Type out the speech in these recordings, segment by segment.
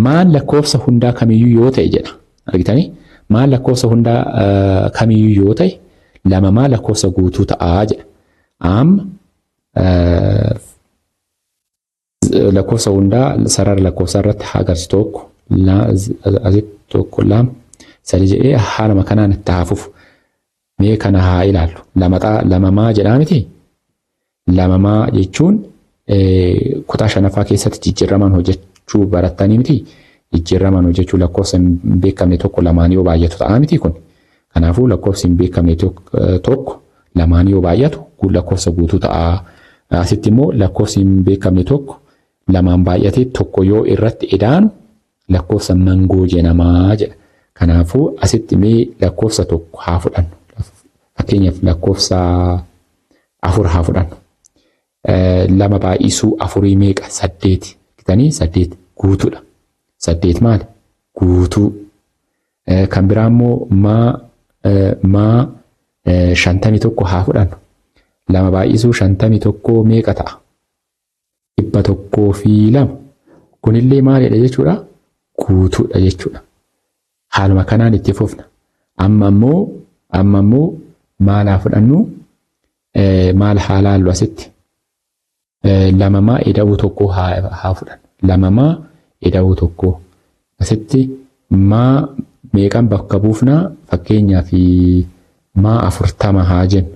Maan lakkoofsa hundaa kamiyyuu yoo ta'e jedha. Argitanii? Maan lakkoofsa hundaa kamiyyuu yoo ta'e lama maa lakkoofsa guutuu ta'aa jedha. Amma lakkoofsa hundaa sarara lakkoofsaa irratti haa agarsiisu tokko asitti tokko lama sadii jedhee haaluma kanaan itti haa fufu. Mee kana haa ilaallu. Lamaxaa lamamaa jedhaa miti? Lamamaa jechuun kutaa shanaffaa keessatti jijjiirramaan hojjechuu barattanii miti? Jijjiirramaan hojjechuu lakkoofsa hin beekamne tokko lamaan yoo baay'atu ta'aa miti kun? Kanaafuu lakkoofsi hin beekamne tokko lamaan yoo baay'atu lakkoofsa guutuu ta'a. Asitti immoo lakkoofsi hin beekamne tokko lamaan baay'atee tokko yoo irratti edaanu Lakkoofsa mangoo jenamaa jedha. Kanaafuu asitti mee lakkoofsa tokko haa fudhannu. Fakkeenyaaf lakkoofsa afur haa fudhannu. Lama baay'isuu afurii meeqa? Saddeeti. Gitanii saddeet guutuudha. Saddeet maali? Guutuu. Kan biraa immoo maa maa shantamii tokko haa fudhannu. Lama baay'isuu shantamii tokko meeqa ta'a? dhibba tokkoo fi lama. Kunillee maalidha jechuudha? Guutuudha jechuudha. Haaluma kanaan itti fufna. Amma immoo amma immoo maal haa fudhannu? Maal haa laallu asitti? Lamamaa ida'uu tokkoo haa fudhannu. Lamamaa ida'uu tokkoo. Asitti maa meeqan bakka buufnaa? Fakkeenyaaf maa afurtama haa jennu.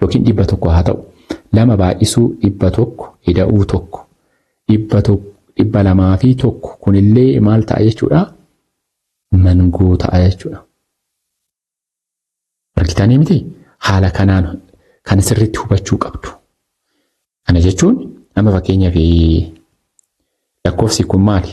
yookiin dhibba tokko haa ta'u. Lama baay'isuu dhibba tokko ida'uu tokko. Dhibba tokko dhibba lamaa fi tokko kunillee maal ta'a jechuudha? Mangoo ta'a jechuudha. Argitanii miti? Haala kanaan kan sirriitti hubachuu qabdu. Kana jechuun amma fakkeenyaaf lakkoofsi kun maali?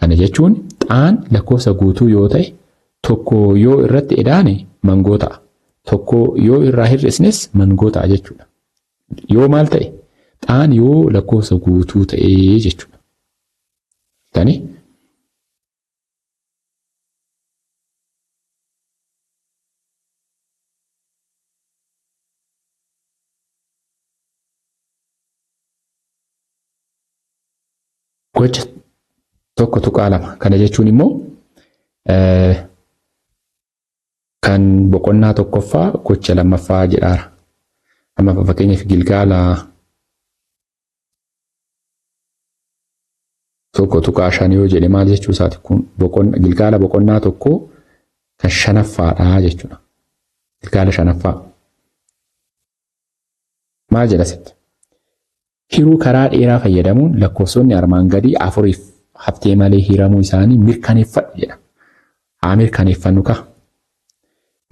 Kana jechuun xaan lakkoofsa guutuu yoo ta'e tokko yoo irratti edaane mangoo ta'a. Tokko yoo irraa hir'isnes mangoo ta'a jechuudha. Yoo maal ta'e? Xaan yoo lakkoofsa guutuu ta'e jechuudha. Tani Gocha tokko tuqaa lama. Kana jechuun immoo kan boqonnaa tokkoffaa gocha lammaffaa jedhaara. Amma fakkeenyaaf gilgaala tokko tuqaa shan yoo jedhe maal jechuu isaati kun boqonna gilgaala boqonnaa tokko kan shanaffaadha jechuudha. Gilgaala shanaffaa. Maal jedha sitti? Hiruu karaa dheeraa fayyadamuun lakkoofsonni armaan gadii afuriif haftee malee hiramuu isaanii mirkaneeffadhu jedha. Haa mirkaneeffannu kaa.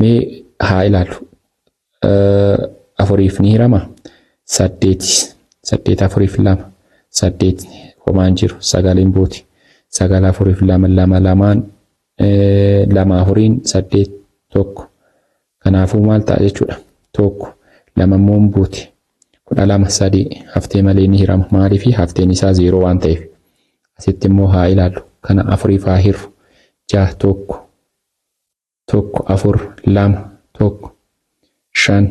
Mee haa ilaallu. Afuriif ni hirama. Saddeeti. Saddeet afuriif lama. Saddeet homaan jiru. Sagaliin buuti. Sagal afuriif lama lama lamaan lama afuriin saddeet tokko. Kanaafuu maal ta'a jechuudha? Tokko, lama immoo hin buuti. Kudha lama, sadii haftee malee ni hirama. Maaliif? Hafteen isaa zeeroo waan ta'eef. Asitti immoo haa ilaallu. Kana afuriif haa hirru. Jaha tokko, tokko afur, lama, tokko, shan,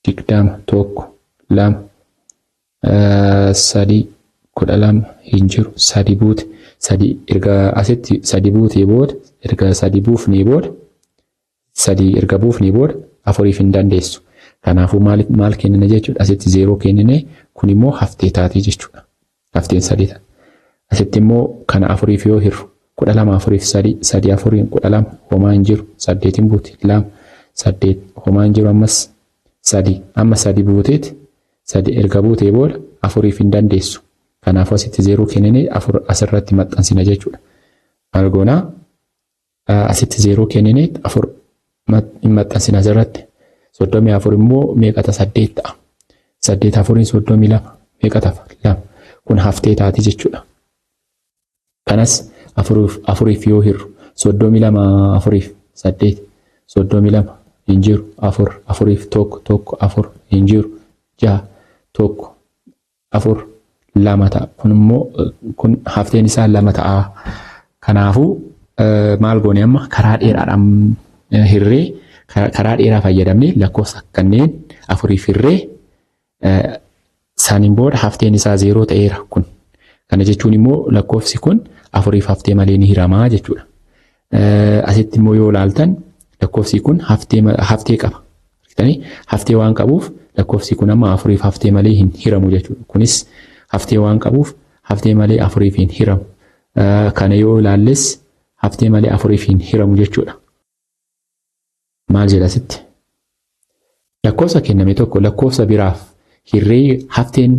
digdama, tokko, lama, sadii, kudha lama hin jiru. Sadii buute. Sadii erga asitti sadii buutee booda erga sadii buufnee booda sadii erga buufnee booda afuriif hin dandeessu. Kanaafuu maal maal kennina jechuudha asitti zeeroo kennine kun immoo haftee taatee jechuudha. Hafteen sadii ta'a. Asitti immoo kana afuriif yoo hirru kudha lama afuriif sadii sadii afuriin kudha lama homaa hin jiru saddeetiin buuti lama saddeet homaa hin jiru ammas sadii amma sadii buuteeti sadii erga buutee booda afuriif hin dandeessu. Kanaafuu asitti zeeroo kennine afur asirratti maxxansina jechuudha. Maal goonaa? Asitti zeeroo kennine afur hin maxxansina asirratti. Soddomii afur immoo meeqa ta'a saddeet ta'a. Saddeet afuriin soddomii lama meeqa ta'a lama. Kun haftee taati jechuudha. Kanas afuriif yoo hirru soddomii lama afuriif saddeet soddomii lama hin jiru afur afuriif tokko tokko afur hin jiru jaha tokko afur lama ta'a. Kun immoo kun hafteen isaa lama ta'a. Kanaafuu maal goone amma karaa dheeraadhaan hirree karaa dheeraa fayyadamnee lakkoofsa kanneen afuriif hirree saaniin booda hafteen isaa zeeroo ta'eera kun. Kana jechuun immoo lakkoofsi kun afuriif haftee malee ni hiramaa jechuudha. Asitti immoo yoo ilaaltan lakkoofsi kun haftee qaba. Haftee waan qabuuf lakkoofsi kun amma afuriif haftee malee hin hiramu jechuudha. Kunis haftee waan qabuuf haftee malee afuriif hin hiramu. Kana yoo ilaalles haftee malee afuriif hin hiramu jechuudha. Maal jedha asitti? Lakkoofsa kenname tokko lakkoofsa biraaf hirree hafteen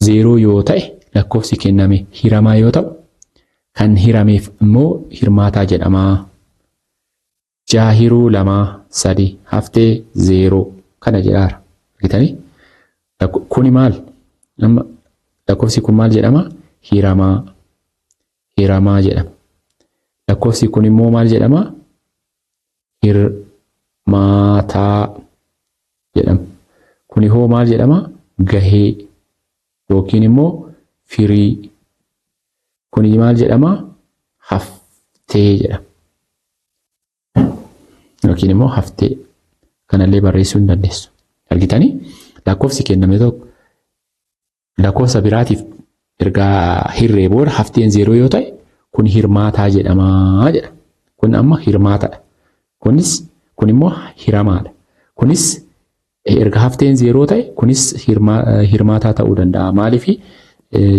zeeroo yoo ta'e lakkoofsi kenname hiramaa yoo ta'u kan hirameef immoo hirmaataa jedhama. Jaha hiruu lamaa sadi haftee zeeroo kana jedhaara. Argitanii? Kuni maal? Amma lakkoofsi kun maal jedhama? Hiramaa. hiramaa jedhama. Lakkoofsi kun immoo maal jedhama? Hirmaataa jedhama. Kuni hoo maal jedhama? Gahee yookiin immoo firii. Kuni maal jedhama? Haftee jedhama. Yookiin immoo haftee. Kanallee barreessuu hin dandeessu. Argitanii? Lakkoofsi kenname tokko Lakkoofsa biraatiif ergaa hirree booda hafteen zeeroo yoo ta'e kun hirmaataa jedhamaa jedha. Kun amma hirmaatadha. Kunis kun immoo hiramaadha. Kunis erga hafteen zeeroo ta'e kunis hirmaataa ta'uu danda'a. Maaliif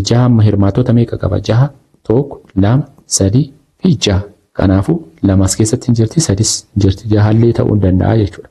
jaha amma hirmaatota meeqa qaba? Jaha, tokko, lama, sadii fi jaha. Kanaafuu lamas keessatti hin jirti, sadis hin jirti. Jahallee ta'uu danda'a jechuudha.